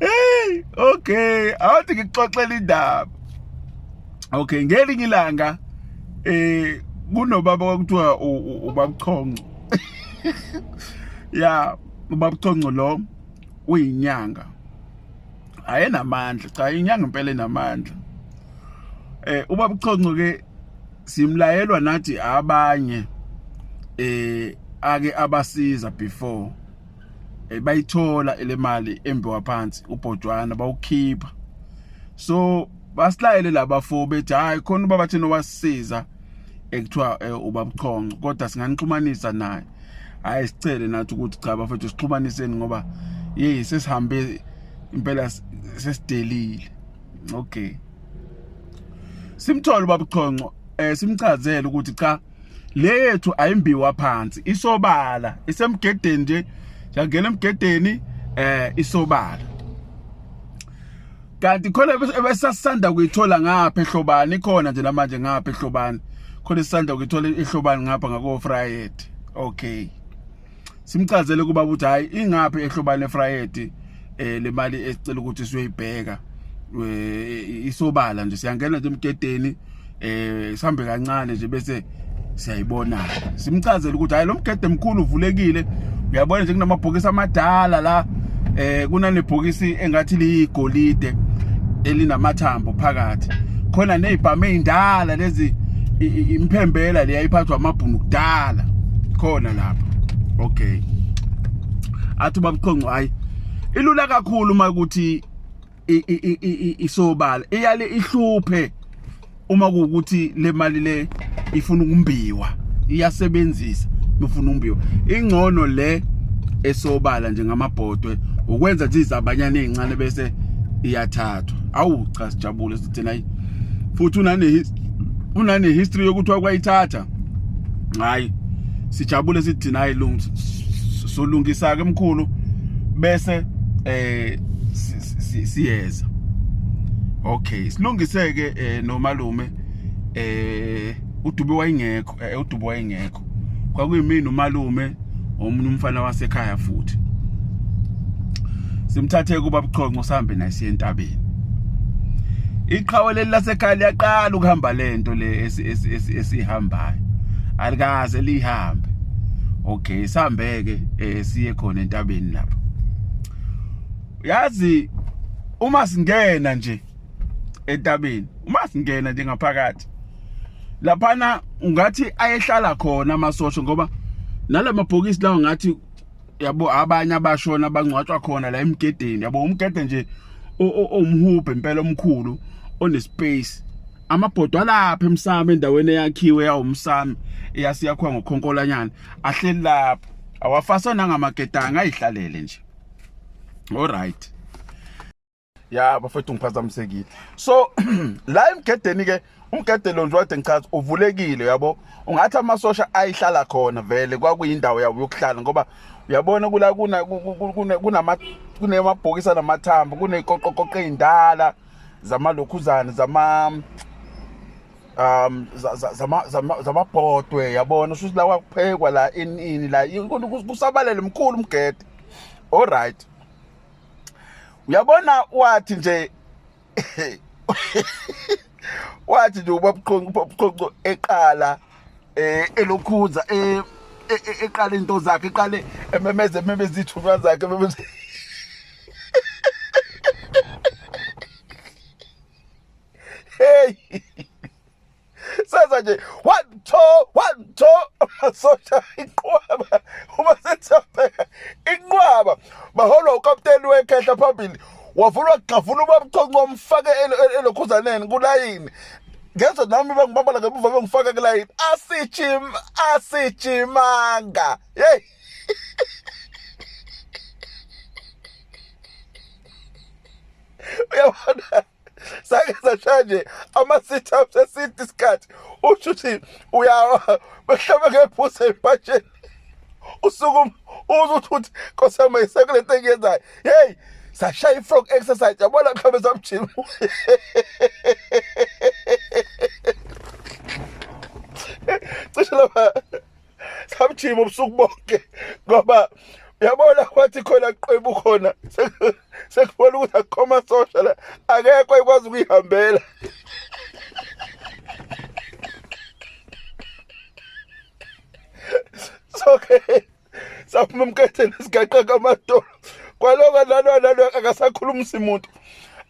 hey okay awuthi ngikuxoxela indaba okay ngelinye ilanga eh kunobaba kwakuthiwa ubabuchonco ya ubabuchonco lo uyinyanga ayenamandla cha inyanga impela enamandla eh ubabuchonco ke simlayelwa nathi abanye eh ake abasiza before eh, bayithola le mali embiwa phansi ubhotshwana bawukhipha so basilayele laba fo bethi hayi khona ubaba thina wasisiza ekuthiwa eh, ubabuchonco kodwa singanixhumanisa naye hayi sicele nathi ukuthi cha bafethu sixhumaniseni ngoba yeyi sesihambe impela sesidelile okay simthole ubabuchonco eh simchazele ukuthi cha le yethu ayimbiwa phansi isobala isemgedeni nje yangena emgedeni eh isobala kanti khona ebesasanda kuyithola ngapha ehlobani khona nje namanje ngapha ehlobani khona isanda kuyithola ehlobani ngapha ngako Friday okay simchazele kuba ukuthi hayi ingaphi ehlobane efrayedi eh le mali esicela ukuthi siyoyibheka eh, isobala nje siyangena nje emgedeni eh sihambe kancane nje bese siyayibona simchazele ukuthi hayi lo mgede mkhulu uvulekile uyabona nje kunamabhokisi amadala la eh kunanebhokisi engathi liyigolide elinamathambo phakathi khona nezibhamu ezindala lezi imphembela leya iphathwa amabhunu kudala khona lapha okay athi babuqonqo hayi ilula kakhulu uma ukuthi isobala iyale ihluphe uma kuwukuthi le mali le ifuna ukumbiwa iyasebenzisa nofuna umbiwa ingcono le esobala nje ngamabhodwe ukwenza nje izabanyana ezincane bese iyathathwa awu cha sijabule sithina futhi unane unane history yokuthi wakwayithatha hayi sijabule sithi nayi lungu solungisa ke mkhulu bese eh siyeza okay silungiseke eh, nomalume eh udube wayengekho eh, udube wayengekho kwakuyimini umalume omunye umfana wasekhaya futhi simthathe kuba buchonco sihambe naye siye entabeni iqhawe leli lasekhaya liyaqala ukuhamba lento le esihambayo alikaze lihambe okay sihambeke eh, siye khona entabeni lapho yazi uma singena nje etabeni uma singena nje ngaphakathi laphana ngathi ayehlala khona amasosha ngoba nalamabhokisi lawo ngathi yabo abanye abashona bangcwatshwa khona la emgedeni yabo umgede nje omhubhe impela omkhulu onespace amabhodwa alapha emsamo endaweni eyakhiwe yawumsamo eyasiyakhiwa ngokhonkolanyana ahleli lapho awafasana ngamagedanga ayihlalele nje all right ya bafethu ngiphazamisekile so la emgedeni ke umgede lo nje wade ngichaza uvulekile yabo ungathi amasosha ayihlala khona vele kwakuyindawo yabo yokuhlala ngoba uyabona kula kuna kunama kunemabhokisi anamathambo kuneqoqoqoqo ezindala zamalokhuzane zama um zamabhodwe yabona shuthi la kwakuphekwa la inini la kusabalele mkhulu umgede all right uyabona wathi nje wathi nje ubabqhonqo eqala eh elokhuza eh e, e, eqale into zakhe eqale ememeze ememeze ithunywa zakhe ememeze hey senza nje one two one two amasosha inqwaba uma sethapeka inqwaba baholwa ukapteni wekhehla phambili wavula wagxavula ubabchonco wamfake elokhuzaneni kulayini ngezwe nami bangibambala ngemuva bengifaka kulayini asijim asijimanga yeyi uyabona sake sashaya nje ama-sit ups eside isikhathi usho ukuthi uyawa behlaba ngephusa ebhatsheni usuku uze uthi ukuthi nkosiyama yisekule nto engiyenzayo heyi sashaya i-frog exercise yabona mhlawumbe samjima cishe lapha samjima ubusuku bonke ngoba yabona kwathi khona qwebu khona sekubona ukuthi akukho masosha la akekho ekwazi ukuyihambela soke saphuma emketheni sigaqa kamadolo kwaloko nalo nalo akasakhulumisi muntu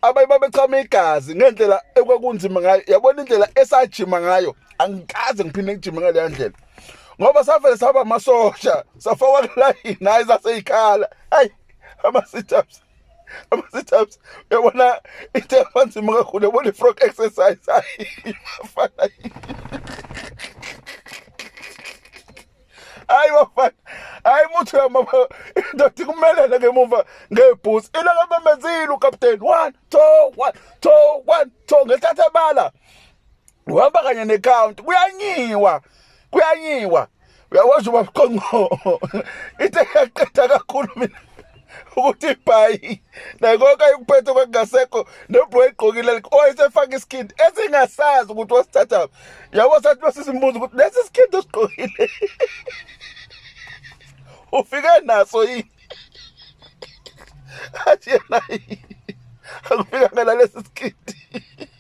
abanye babechama igazi ngendlela ekwakunzima ngayo yabona indlela esajima ngayo angikaze ngiphinde ngijime ngaleya ndlela ngoba savele saba amasosha safakwa kulayini hayi saseyikhala hayi ama-situps ama-situps uyabona into yabanzima kakhulu yabona i-frog exercise hayi bafana hayi bafana hayi muthi uyamama indoda ikumelele ngemuva ngebhusi ilokabamezile ukapteni one two one two one two ngethatha bala uhamba kanye necounty kuyanyiwa kuyanyiwa uyakwazi uba qonqo ithe yaqeda kakhulu mina ukuthi ibhayi nakonke ayikuphethe kwakungasekho nebro egqokile owayesefaka iskin esingasazi ukuthi wasithatha yabo sathi basisimbuza ukuthi lesi skin osigqokile ufike naso yini athi yena akufikanga nalesi skindi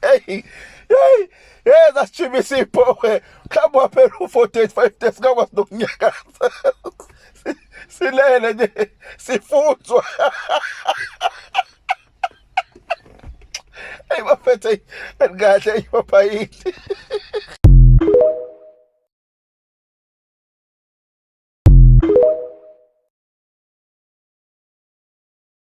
Hey, hey, hey, zasishibisa iphohe. Mhlawumbe waphela u-485 days ngakwazi nokunyakaza. Silele nje sifuthwa. Hey bafethe kahle ipaphayini.